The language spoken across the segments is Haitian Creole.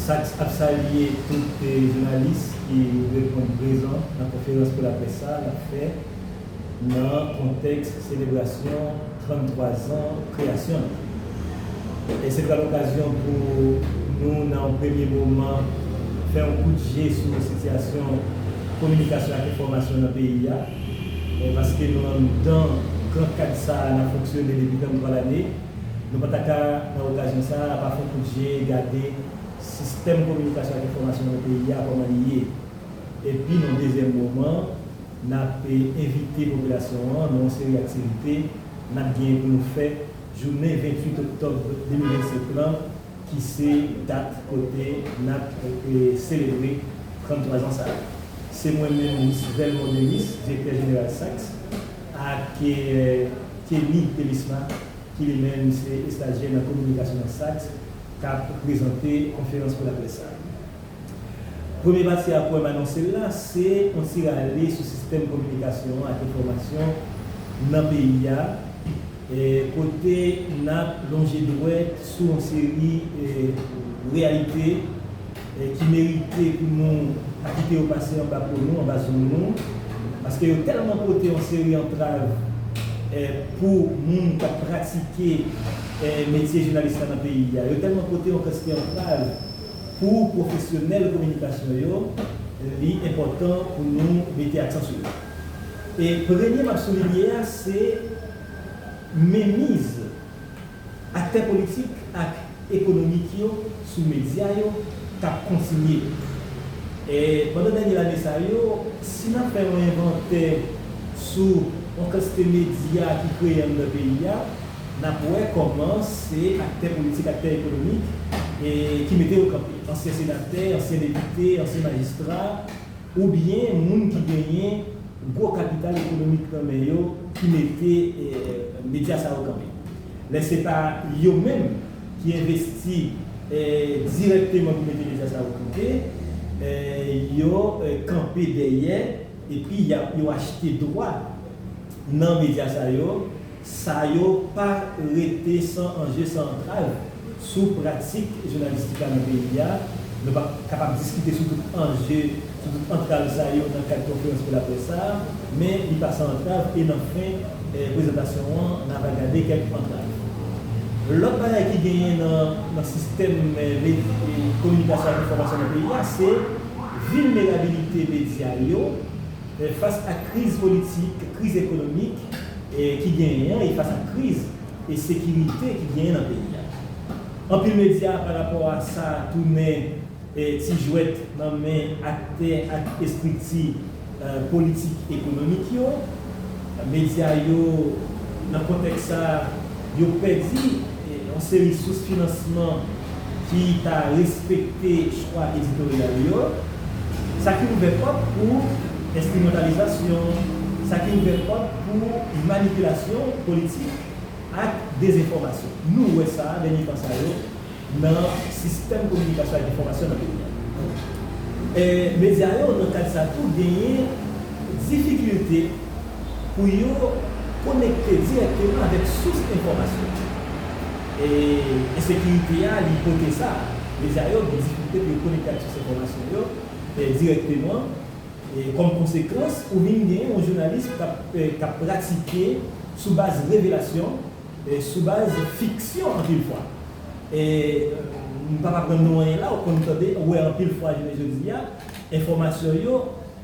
Sax ap salye tout jounalis ki reponn prezan nan konferans pou laprès sa a l ap fè nan kontèks selebrasyon 33 zan kreyasyon l. E se pral okazyon pou nou nan yon premye moman fè yon kout je sou sitiyasyon kominikasyon ak enfòmasyon nan peyi a paske nou anndan gran kad sa a n ap fonksyone depi 33 lane. Nou pa ta ka, nan okazyon sa a, pa fè kout je gade sistèm kominikasyon ak enfòmasyon nan peyi a kòman li ye. Epi, nan dezyèm moman, n ap envite popilasyon an nan yon seri aktivite n ap genyen pou nou fè jounen 28 oktòb 2025 lan ki se dat kote n ap selebre 33 zan sa a. Se mwen menm, Miss Velmont Denis, Direktè Jeneral SAKS. Ak Kenny Thelisma ki li menm se estajyè nan kominikasyon nan SAKS k ap prezante konferans pou laprès sa. Premye pati a pou m anonse l la se yon ti rale sou sistèm kominikasyon an ak enfòmasyon nan peyi a kote n ap lonje dwèt sou yon seri reyalite, ki merite pou nou pa kite yo pase anba po nou, anba zong nou, paske yo tèlman pote yon seri antrav pou moun k ap pratike metye jounalis la nan peyi a, yo tèlman pote yon kantite antrav pou pwofesyonèl kominikasyon yo, li enpòtan pou nou mete aksan sou yo. E premye m ap soulinye a se menmiz. Aktè politik ak ekonomik yo sou medya yo k ap kontinye. E pandan dènye lane sa yo, si n ap fè yon envantè sou yon kantite medya ki kreye anndan peyi a, n ap wè kòman se aktè politik, aktè ekonomik ki mete yo kanpe. Ansyen senatè, ansyen depite, ansyen majistra. oubyen moun ki genyen gwo kapital ekonomik nan men yo ki mete medya sa yo kanpe. Lè se pa yo menm ki envesti dirèkteman pou mete medya sa yo kanpe, yo kanpe dèyè epi yo achte dwa nan medya sa yo, Sa yo pa rete san anje san antrav sou pratik jounalistik la nan peyi a. Nou pa kapab diskite sou tout anje, sou tout antrav sa yo nan kad konferans pou laprès sa a, men li pa san antrav e nan fen prezantasyon an n ava gade kèk antrav. Lòt bagay ki genyen nan sistèm kominikasyon ak enfòmasyon nan peyi a se vilnerabilite medya yo Fas ak kriz politik, kriz ekonomik ki genyen an e fas ak kriz sekirite ki genyen nan peyi a. Anpil medya pa rapò a sa tounen ti jwèt nan men aktè ak estrikti politik ekonomik yo. Medya yo nan kontèks sa yo pèdi yon seri sous finansman ki ta respekte chwa editoryal yo, sa ki ouvè pòt pou enstrimentalizasyon, sa ki ouvè pòt pou manipilasyon politik ak dezenfòmasyon. Nou wè sa dènye tan sa yo nan sistèm kominikasyon ak enfòmasyon nan peyi a. Medya yo nan kad sa tou genyen difikilte. pou yo konekte dirèkteman avèk sous enfòmasyon yo. E ensekirite a li pote sa, medya yo gen difikilte pou yo konekte ak sous enfòmasyon yo dirèkteman. Kòm konsekans, ou vin gen yon jounalis k ap pratike sou baz revelasyon, sou baz fiksyon anpil fwa. E m p ap aprann nou anyen la, ou konn tande, wè anpil fwa jounen jodi a, enfòmasyon yo,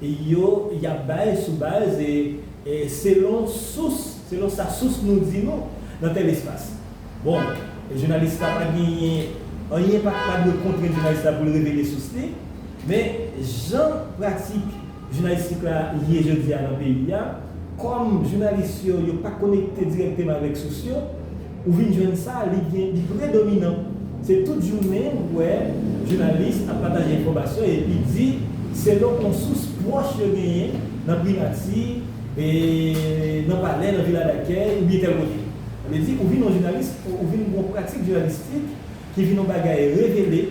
yo y ap bay sou baz selon sous, selon sa sous nou di nou nan tèl espas. Bon, jounalis la pa genyen, anyen pa pa dwe kontrenn jounalis la pou l revele sous li, men jan pratik jounalistik la ye jodi a nan peyi a, kòm jounalis yo yo pa konekte dirèkteman avèk sous yo, Ou vin jwenn sa li gen li predominan se tout jounen ou wè jounalis ap pataje enfòmasyon epi di selon on sous pwòch yo genyen nan primati, nan palè, nan vila dakèy oubyen tèl kote. Sa vle di ou vin on jounalis ou vin gon pratik jounalistik ki vin on bagay revele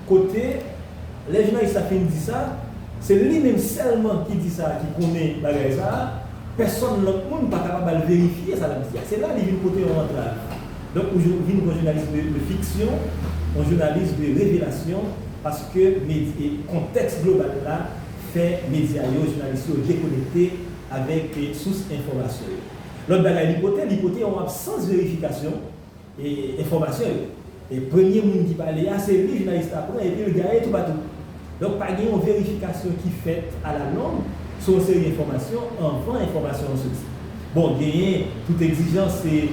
Kote, lè jounalis la fin di sa, se li menm sèlman ki di sa ki konnen bagay sa, pèsòn lòt moun pa kapab al verifye sa l ap di a. Se la li vin pote yon antrav. Donk ou vin yon jounalis de fiksyon, yon jounalis de revelasyon paske kontèks global la fè medya yo, jounalis yo dekonekte avèk sous enfòmasyon yo. Lòt bagay li pote, li pote yon absans verifikasyon. enfòmasyon yo. E premye moun ki pale a se li jounalis la pran epi l gaye toupatou. Donk pa gen yon verifikasyon ki fèt alalong sou yon seri enfòmasyon anvan enfòmasyon an soti. Bon, genyen tout egzijans se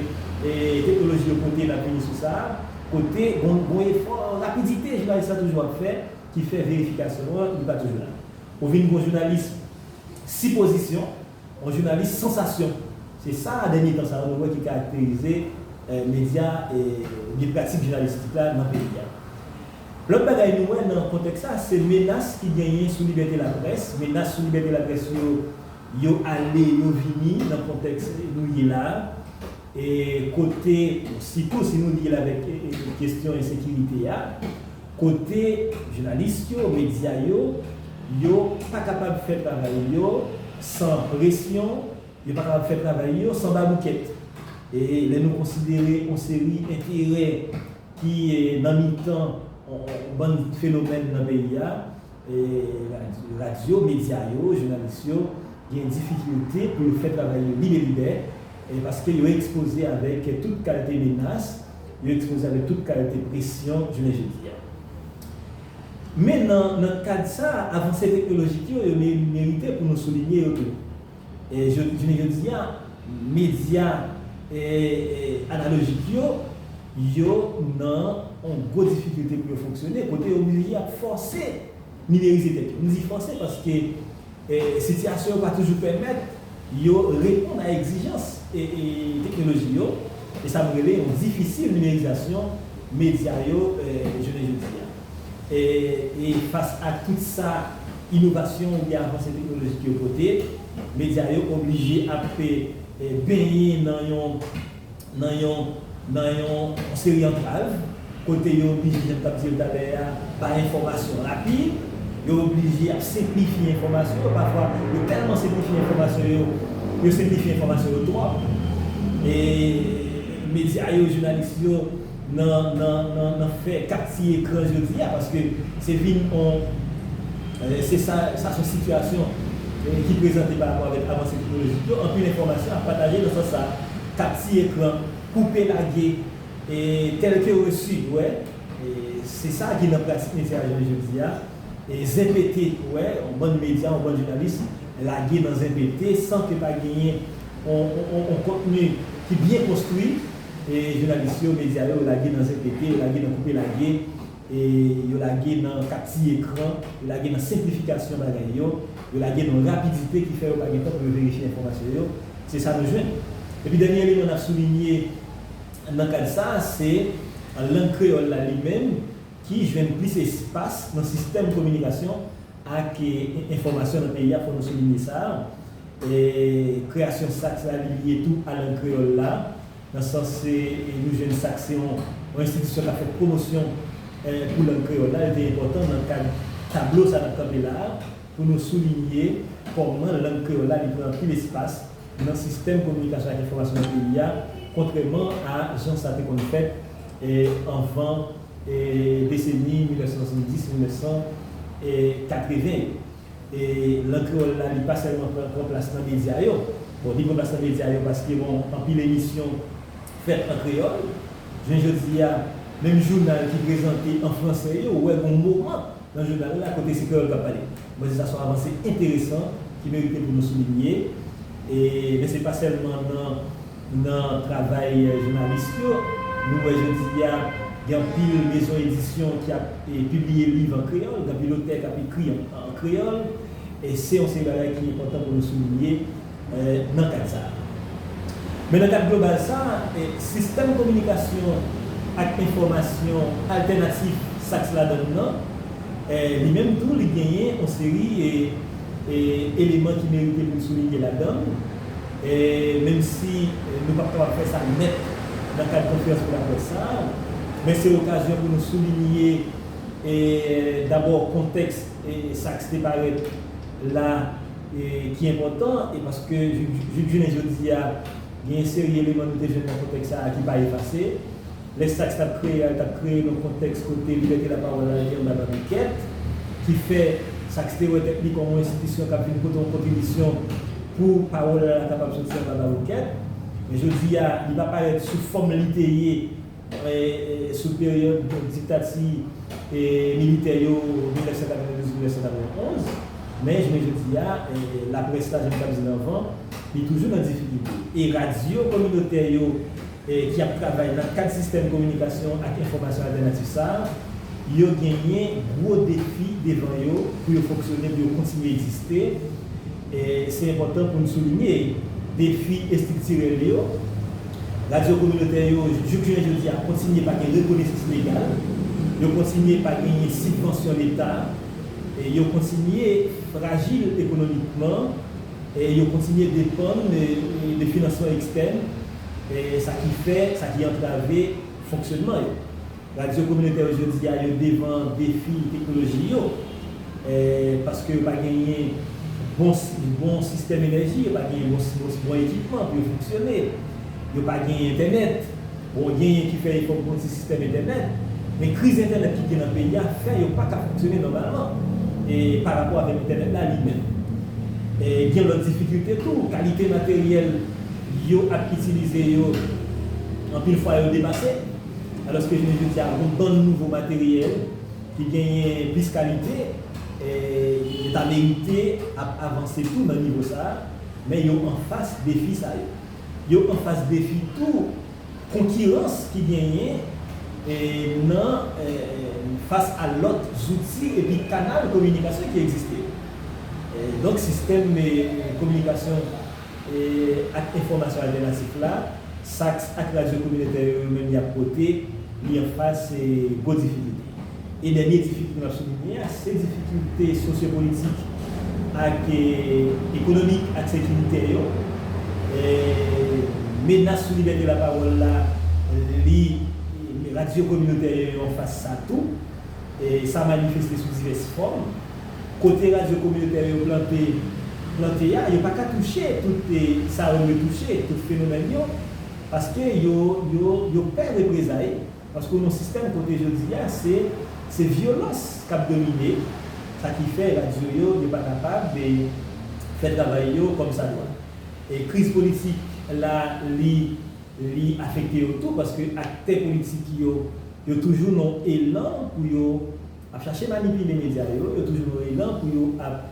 teknoloji yo pote n ap vini sou sa a, kote gon efò rapidite jounalis la toujou ap fè ki fè verifikasyon an li pa toujou la. Ou vin gon jounalis sipozisyon. On jounalis sansasyon. Se sa dènye tan sa yo nou wè ki karakterize medya ebyen pratik jounalistik la nan peyi a. Lòt bagay nou wè nan kontèks sa se menas ki genyen sou libète laprès. Menas sou libète laprès yo, yo ale yo vini nan kontèks nou ye la a. E kote, sitou si nou lye l avèk kesyon ensekirite a, kote jounalis yo, medya yo, yo pa kapab fè travay yo san presyon, yo pa kapab fè travay yo san baboukèt. E lè nou konsidere yon seri enterè ki nan mitan yon bann fenomèn nan peyi a, Radyo, medya yo, jounalis yo gen difikilte pou yo fè travay yo lib e libè paske yo ekspoze avèk tout kalte menas, yo ekspoze avèk tout kalte presyon jounen jodi a. Men nan kad sa a, avanse teknolojik yo, yo merite pou nou soulinye yo tou. Jounen jodi a, medya analojik yo, yo nan yon gwo difikilte pou yo fonksyone, kote yo blije ap fòse nimerize tèt yo. M di fòse paske sitiyasyon yo pa toujou pèmèt yo reponn a egzijans teknoloji yo, e sa nou rele yon difisil nimerizasyon medya yo jounen jodi a. E fas ak tout sa inovasyon oubyen avanse teknolojik yo pote, medya yo oblije ap benyen nan yon nan yon seri antrav, kote yo oblije, jan m t ap di yo talè a, bay enfòmasyon rapid, yo oblije ap senplifye enfòmasyon yo, pafwa yo tèlman senplifye enfòmasyon yo, yo senplifye enfòmasyon yo twòp, e medya yo, jounalis yo. nan fè 4 ti ekran jodi a paske se vin on se sa sa son sitiyasyon ki prezante pa rapò avèk avanse teknolojik yo anpil enfòmasyon ap pataje nan sans sa 4 ti ekran koupe lage e tèlke reçu wè se sa ki nan pratik metye a jounen jodi a. Zen pete ou wè yon bann medya yon bann jounalis lage nan zen pete san ke pa genyen yon kontni ki byen konstwi jounalis yo medya yo lage nan zen pete yo lage nan koupe lage yo lage nan kap tiye kran yo lage nan senplifikasyon bagay yo yo lage nan yon rapidite ki fè yo pa gen tan pou yo verifye enfòmasyon yo se sa nou jwenn epi dènye eleman nap soulinye nan kad sa se lang kreyòl la li menm ki jwenn plis espas nan sistèm kominikasyon ak enfòmasyon nan peyi a, fò nou soulinye sa, kreyasyon SAKS la li lye tou a lang kreyòl la, nan sans nou jwenn SAKS se yon enstitisyon k ap fè pwomosyon pou lang kreyòl la, li te enpòtan nan kad tablo sa n ap kanpe la a. Pou nou soulinye kòman lang kreyòl la li pran anpil espas nan sistèm kominikasyon ak enfòmasyon nan peyi a, kontrèman a jan sa te konn fèt anvan deseni 1970-1980 yo. Lang kreyòl la li pa sèlman pran gran plas nan medya yo, bon li pran plas nan medya yo paske bon anpil emisyon fèt an kreyòl, jounen jodi a menm jounal ki prezante an fransè yo wè gon moman, Nan jounal la, kote se kreyòl k ap pale. Mwen di sa son avanse enteresan ki merite pou nou soulinye. E, men se pa sèlman nan nan travay jounalis yo. Nou wè jodi a, gen anpil mezon edisyon ki ap pibliye liv an kreyòl, gen anpil otè k ap ekri an kreyòl. E se yon seri bagay ki enpòtan pou nou soulinye. nan kad sa a. Men nan kad global sa a, sistèm kominikasyon ak enfòmasyon altènatif SAKS la dan nan, li menm tou li genyen yon seri eleman ki merite pou n soulinye ladan l, menm si nou pap kapab fè sa nèt nan kad konferans pou laprès sa a, men se okazyon pou nou soulinye dabò kontèks SAKS te parèt la ki enpòtan e paske jouk jounen jodi a gen yon seri eleman nou te jwenn nan kontèks sa a ki pa efase. Lè SAKS t ap kreye a, li t ap kreye nan yon kontèks kote libète lapawòl la rete anba bariket, ki fè SAKS te wè tèt li kòm yon enstitisyon k ap vin pote yon kontribisyon pou pawòl la kapab soti anba bariket. Men jodi a, li pa parèt sou fòm li te ye Sou peryòd diktati militè yo 1992-1991, men jounen jodi a, laprès la, jan m t ap di l anvan, li toujou nan difikilte. E radyo kominotè yo ki ap travay nan kad sistèm kominikasyon ak enfòmasyon altènatif sa a, yo genyen gwo defi devan yo pou yo fonksyone, pou yo kontinye egziste. Se enpòtan pou n soulinye defi estriktirèl yo. Radyo kominotè yo, jouk jounen jodi a, kontinye pa gen rekonesans legal, yo kontinye pa genyen sibvansyon leta, yo kontinye frajil ekonomikman, yo kontinye depann de finansman ekstèn, sa ki fè, sa ki antrave fonksyònman yo. Radyo kominotè yo jodi a yo devan defi teknoloji yo paske yo pa genyen bon sistèm enèji, yo pa genyen bon ekipman pou yo fonksyone, yo pa genyen entènèt. Bon genyen ki fè efò pou yon ti sistèm entènèt, men kriz entènèt ki gen nan peyi a fè yo pa ka fonksyone nòmalman pa rapò avèk entènèt la li menm. Gen yon lòt difikilte tou, kalite materyèl yo ap itilize yo anpil fwa yo depase. Alòske jounen jodi a gon bann nouvo materyèl ki genyen plis kalite, yo ta merite ap avanse tou nan nivo sa a, men yo anfas defi sa yo. Yo anfas defi tou konkirans ki genyen nan fas a lòt zouti epi kanal kominikasyon ki egziste yo. Donk sistèm kominikasyon. ak enfòmasyon altènatif la, SAKS ak radyo kominotè yo yo menm y ap pote, li anfas gwo difikilte. E dènye difikilte m ap soulinye a, se difikilte sosyopolitik ak ekonomik ak sekirite yo. Menas sou libète lapawòl la, li, radyo kominotè yo yo anfas sa tou. Sa manifeste sou divès fòm. Kote radyo kominotè yo plante plante a, yo pa ka touche tout sa yo dwe touche, tout fenomèn yo, paske yo yo yo pè reprezay, paske w nan yon sistèm kote jodi a se se vyolans k ap domine, sa ki fè radyo yo yo pa kapab fè travay yo kòmsadwa. E kriz politik la li li afekte yo tou, paske aktè politik yo yo toujou nan elan pou yo. ap chache manipile medya yo, yo toujou nan elan pou yo ap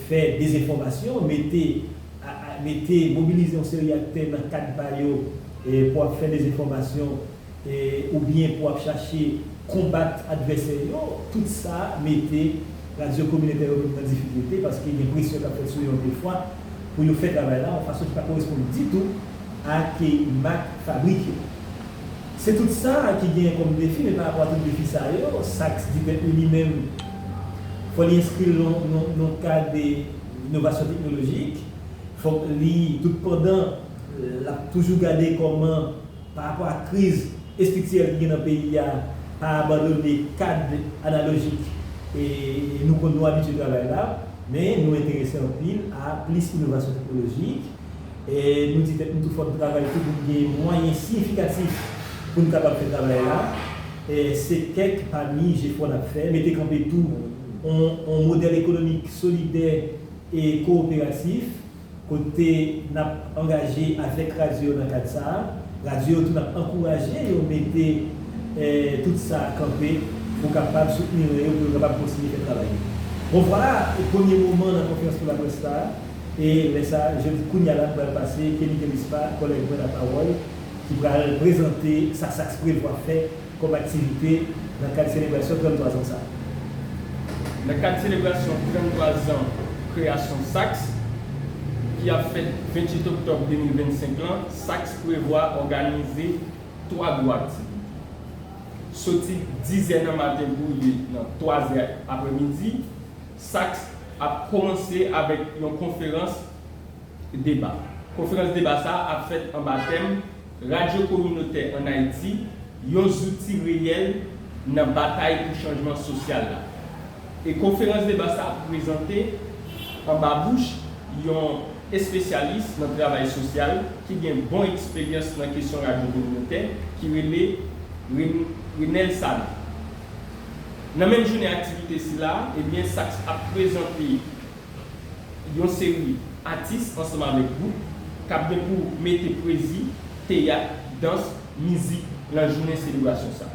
fè dezenfòmasyon, mete, mete, mobilize yon seri aktè nan kad pa yo pou ap fè dezenfòmasyon oubyen pou ap chache konbat advèsè yo. Tout sa mete radyo kominotè yo menm nan difikilte paske gen presyon k ap fèt sou yo anpil fwa pou yo fè travay la yon fason ki pa koresponn ditou ak mak fabrik yo. Se tout sa ki genyen kòm defi men pa rapò a tout defi sa yo, SAKS di tèt li li menm fò li enskri l nan yon kad de inovasyon teknolojik, fòk li tout pandan l ap toujou gade kòman pa rapò a kriz estriktirèl ki gen nan peyi a pa abandone kad analojik nou konn nou abitye travay la men nou enterese anpil a plis inovasyon teknolojik. E nou di tèt nou tou fò n travay tou pou n gen mwayen siyifikatif pou n kapab fè travay la. Se kèk pami jefò n ap fè. Mete kanpe tou on modèl ekonomik solidè e kowoperatif kote n ap angaje avèk radyo yo nan kad sa a. Radyo yo tou n ap ankouraje yo mete tout sa a kanpe pou kapab soutni ren yo pou yo kapab kontinye fè travay yo. Bon vwala premye moman nan konferans pou laprès sa a. E lè sa, je di kounya la m pral pase Kenny Delispa, kòlèg mwen lapawòl, ki pral prezante sa SAKS prevwa fè kòm aktivite nan kad selebrasyon 33 zan sa a. Nan kad selebrasyon 33 zan kreyasyon SAKS, ki ap fèt 28 oktòb 2025 lan, SAKS prevwa òganize 3 gwo aktivite. Soti 10 zè nan maten pou rive nan 3 zè aprè midi, SAKS ap kòmanse avèk yon konferans deba. Konferans deba sa a ap fèt anba tèm, Radyo kominotè ann Ayiti, yon zouti reyèl nan batay pou chanjman sosyal la. E konferans deba sa a ap prezante anba bouch yon espesyalis nan travay sosyal ki gen bon eksperyans nan kesyon radyo kominotè ki rele Renel Sanon. Nan menm jounen aktivite sila, ebyen SAKS ap prezante yon seri atis ansanm avèk gwoup k ap gen pou mete pwezi, teyat, dans, mizik lan jounen selebrasyon sa.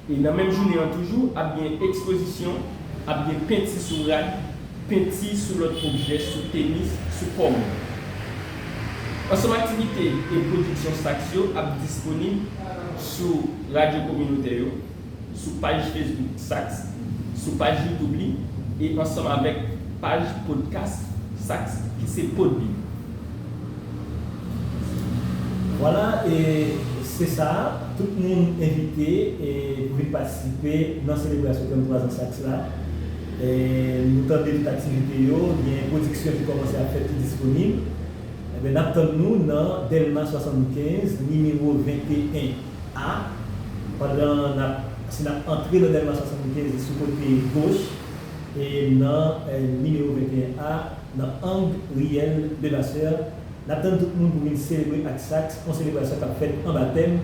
E nan menm jounen an toujou ap gen ekspozisyon, ap gen penti sou rad, penti sou lòt objè, sou tenis, sou kò moun. Ansanm aktivite e pwodiksyon SAKS yo ap disponib sou radyo kominotè yo, sou paj Facebook SAKS, sou paj YouTube li e ansanm avèk paj podcast SAKS ki se Podbean. Vwala e se sa, tout moun envite pou vin patisipe nan selebrasyon 33 zan SAKS la. Nou tande tout aktivite yo, gen pwodiksyon ki kòmanse ap fèt ki disponib. Enben n ap tann nou nan Dèlma 75, nimewo 21. A, Pandan n ap, si n ap antre nan dèlman 75 e sou kote goch e nan nimewo 21 A, nan ang riyèl Levasseur, n ap tann tout moun pou vin selebre ak Saks, on selebrasyon k ap fèt anba tèm,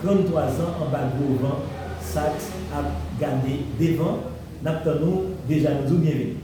33 zan anba gwo van, Saks ap gade devan, n ap tann ou, deja nou di w byenveni.